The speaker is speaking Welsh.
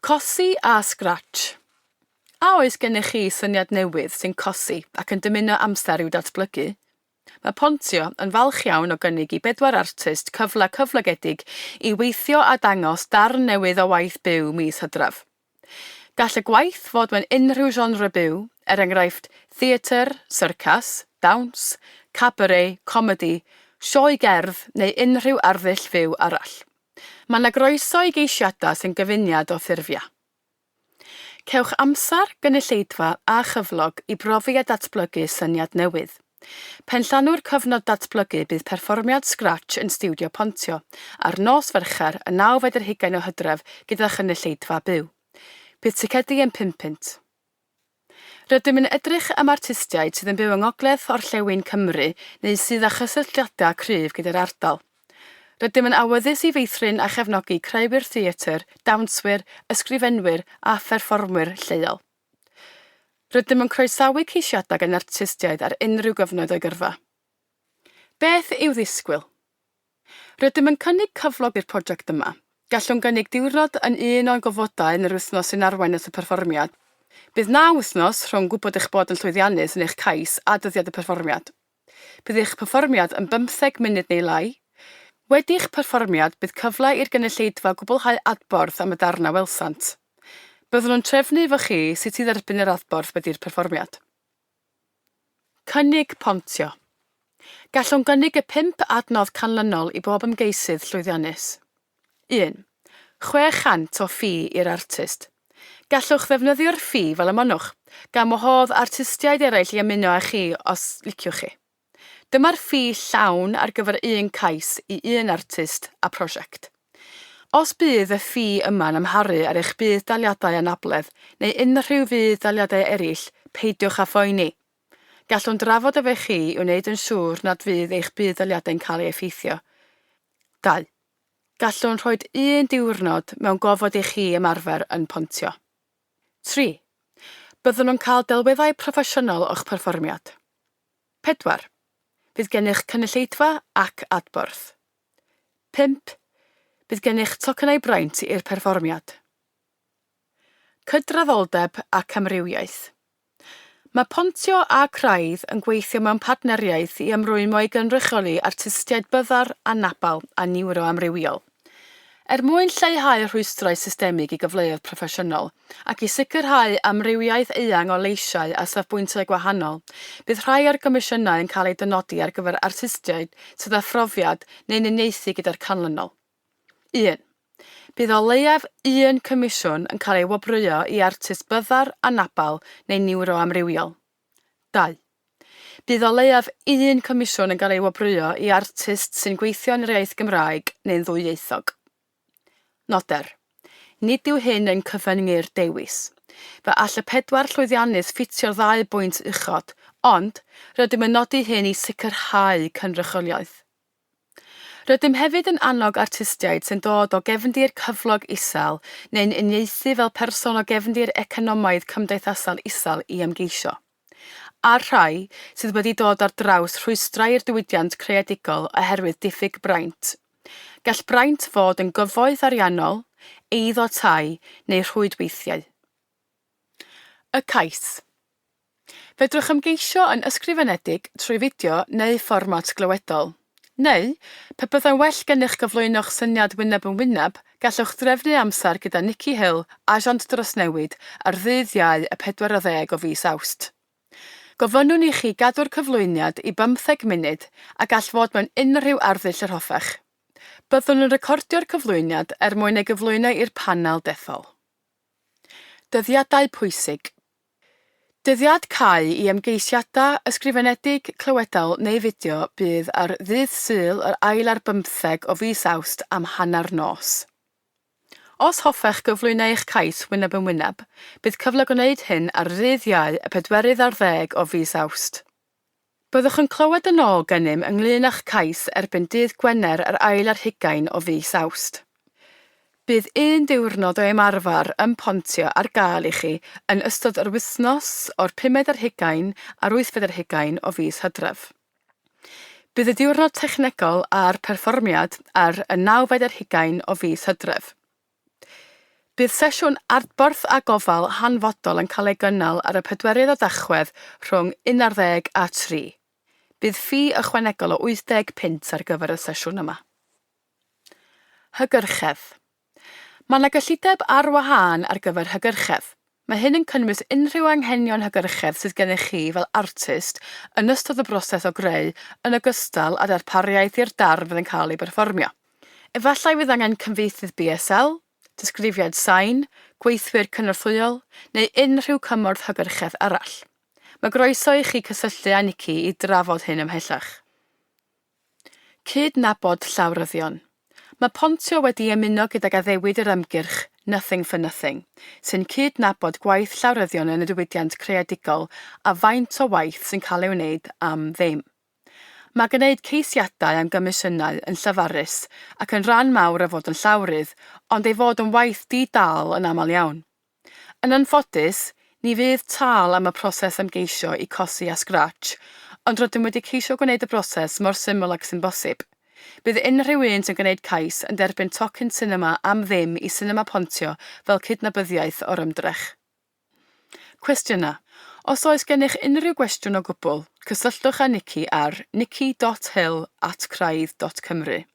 Cosi a Scratch. A oes gennych chi syniad newydd sy'n cosi ac yn dymuno amser i'w datblygu? Mae Pontio yn falch iawn o gynnig i bedwar artist cyfle cyflogedig i weithio a dangos darn newydd o waith byw mis Hydref. Gall y gwaith fod mewn unrhyw genre byw, er enghraifft, theatr, syrcas, dawns, cabaret, comedi, sioe gerdd neu unrhyw arddull fyw arall. Mae 'na groeso i geisiadau sy'n gyfuniad o ffurfiau. Cewch amser, gynulleidfa a chyflog i brofi a datblygu syniad newydd. Pen llanw'r cyfnod datblygu bydd perfformiad Scratch yn Stiwdio Pontio ar nos Fercher y nawfed ar hugain o Hydref gyda chynulleidfa byw. Bydd ticedi yn pum punt. Rydym yn edrych am artistiaid sydd yn byw yng ngogledd orllewin Cymru neu sydd â chysylltiadau cryf gyda'r ardal. Rydym yn awyddus i feithrin a chefnogi creuwyr theatr, dawnswyr, ysgrifenwyr a pherfformwyr lleol. Rydym yn croesawu ceisiadau gan artistiaid ar unrhyw gyfnod o'i gyrfa. Beth i'w ddisgwyl? Rydym yn cynnig cyflog i'r prosiect yma. Gallwn gynnig diwrnod yn un o'n gofodau yn yr wythnos sy'n arwain at y perfformiad. Bydd naw wythnos rhwng gwybod eich bod yn llwyddiannus yn eich cais a dyddiad y perfformiad. Bydd eich perfformiad yn bymtheg munud neu lai. Wedi eich perfformiad, bydd cyfle i'r gynulleidfa gwblhau adborth am y darn a welsant. Byddwn yn trefnu efo chi sut i dderbyn yr adborth wedi'r perfformiad. Cynnig pontio. Gallwn gynnig y pump adnodd canlynol i bob ymgeisydd llwyddiannus. Un. 600 o ffi i'r artist. Gallwch ddefnyddio'r ffi fel y monnwch, gan wahodd artistiaid eraill i ymuno â chi os liciwch chi. Dyma'r ffi llawn ar gyfer un cais i un artist a prosiect. Os bydd y ffi yma'n amharu ar eich budd-daliadau anabledd neu unrhyw fudd-daliadau eraill, peidiwch â phoeni. Gallwn drafod efo chi i wneud yn siŵr nad fydd eich budd-daliadau'n cael ei effeithio. Dau. Gallwn rhoi un diwrnod mewn gofod i chi ymarfer yn pontio. Tri. Byddwn yn cael delweddau proffesiynol o'ch perfformiad. 4. Bydd gennych cynulleidfa ac adborth. 5. Bydd gennych tocynnau braint i'r perfformiad. Cydraddoldeb ac amrywiaeth. Mae Pontio a Craidd yn gweithio mewn partneriaeth i ymrwymo i gynrychioli artistiaid byddar, anabl a niwroamrywiol. Er mwyn lleihau rhwystrau systemig i gyfleoedd proffesiynol, ac i sicrhau amrywiaeth eang o leisiau a safbwyntiau gwahanol, bydd rhai o'r comisiynau yn cael eu dynodi ar gyfer artistiaid sydd â phrofiad neu'n uniaethu gyda'r canlynol. Un. Bydd o leiaf un comisiwn yn cael ei wobrwyo i artist byddar, anabl neu niwroamrywiol. Dau. Bydd o leiaf un comisiwn yn cael ei wobrwyo i artist sy'n gweithio yn yr iaith Gymraeg neu'n ddwyieithog. Noder. Nid yw hyn yn cyfyngu'r dewis. Fe all y pedwar llwyddiannydd ffitio'r ddau bwynt uchod, ond rydym yn nodi hyn i sicrhau cynrychioliaeth. Rydym hefyd yn annog artistiaid sy'n dod o gefndir cyflog isel neu'n uniaethu fel person o gefndir economaidd cymdeithasol isel i ymgeisio. A'r rhai sydd wedi dod ar draws rhwystrau i'r diwydiant creadigol oherwydd diffyg braint. Gall braint fod yn gyfoeth ariannol, eiddo tai neu rhwydweithiau. Y cais. Fedrwch ymgeisio yn ysgrifenedig trwy fideo neu fformat glywedol. Neu, pe byddai'n well gennych gyflwyno'ch syniad wyneb yn wyneb, gallwch drefnu amser gyda Nikki Hill, Asiant Drawsnewid, ar ddydd Iau y 40 o fis Awst. Gofynnwn i chi gadw'r cyflwyniad i bymtheg munud a gall fod mewn unrhyw arddull yr hoffech. Byddwn yn recordio'r cyflwyniad er mwyn ei gyflwyno i'r panel dethol. Dyddiadau pwysig. Dyddiad cau i ymgeisiadau ysgrifenedig, clywedol neu fideo bydd ar ddydd Sul yr ail ar bymtheg o fis Awst am hanner nos. Os hoffech gyflwyno eich cais wyneb yn wyneb, bydd cyfle gwneud hyn ar ddydd Iau y pedwerydd ar ddeg o fis Awst. Byddwch yn clywed yn ôl gennym ynglŷn â'ch cais erbyn dydd Gwener yr ail ar hugain o fis Awst. Bydd un diwrnod o ymarfer ym Pontio ar gael i chi yn ystod yr wythnos o'r pumed ar hugain a'r wythfed ar hugain o fis Hydref. Bydd y diwrnod technegol a'r perfformiad ar y nawfed ar hugain o fis Hydref. Bydd sesiwn adborth a gofal hanfodol yn cael ei gynnal ar y pedwerydd o Dachwedd rhwng unarddeg a tri. Bydd ffi ychwanegol o wythdeg punt ar gyfer y sesiwn yma. Hygyrchedd Mae yna gyllideb ar wahân ar gyfer hygyrchedd. Mae hyn yn cynnwys unrhyw anghenion hygyrchedd sydd gennych chi fel artist yn ystod y broses o greu yn ogystal â darpariaeth i'r darn fydd yn cael ei berfformio. Efallai fydd angen cyfieithydd BSL, disgrifiad sain, gweithwyr cynorthwyol, neu unrhyw cymorth hygyrchedd arall. Mae groeso i chi cysylltu â Nikki i drafod hyn ymhellach. Cyd-nabod llawryddion. Mae Pontio wedi ymuno gydag addewid yr ymgyrch 'Nothing for Nothing', sy'n cyd-nabod gwaith llawryddion yn y diwydiant creadigol a faint o waith sy'n cael ei wneud am ddim. Mae gwneud ceisiadau am gomisiynau yn llefarus ac yn rhan mawr o fod yn llawrydd, ond ei fod yn waith di-dâl yn aml iawn. Yn anffodus, ni fydd tâl am y proses ymgeisio i cosi a Scratch, ond rydym wedi ceisio gwneud y broses mor syml ag sy'n bosib. Bydd unrhyw un sy'n gwneud cais yn derbyn tocyn sinema am ddim i Sinema Pontio fel cydnabyddiaeth o'r ymdrech. Cwestiynau Os oes gennych unrhyw gwestiwn o gwbl, cysylltwch â Nikki ar nikki.hill at craidd.cymru.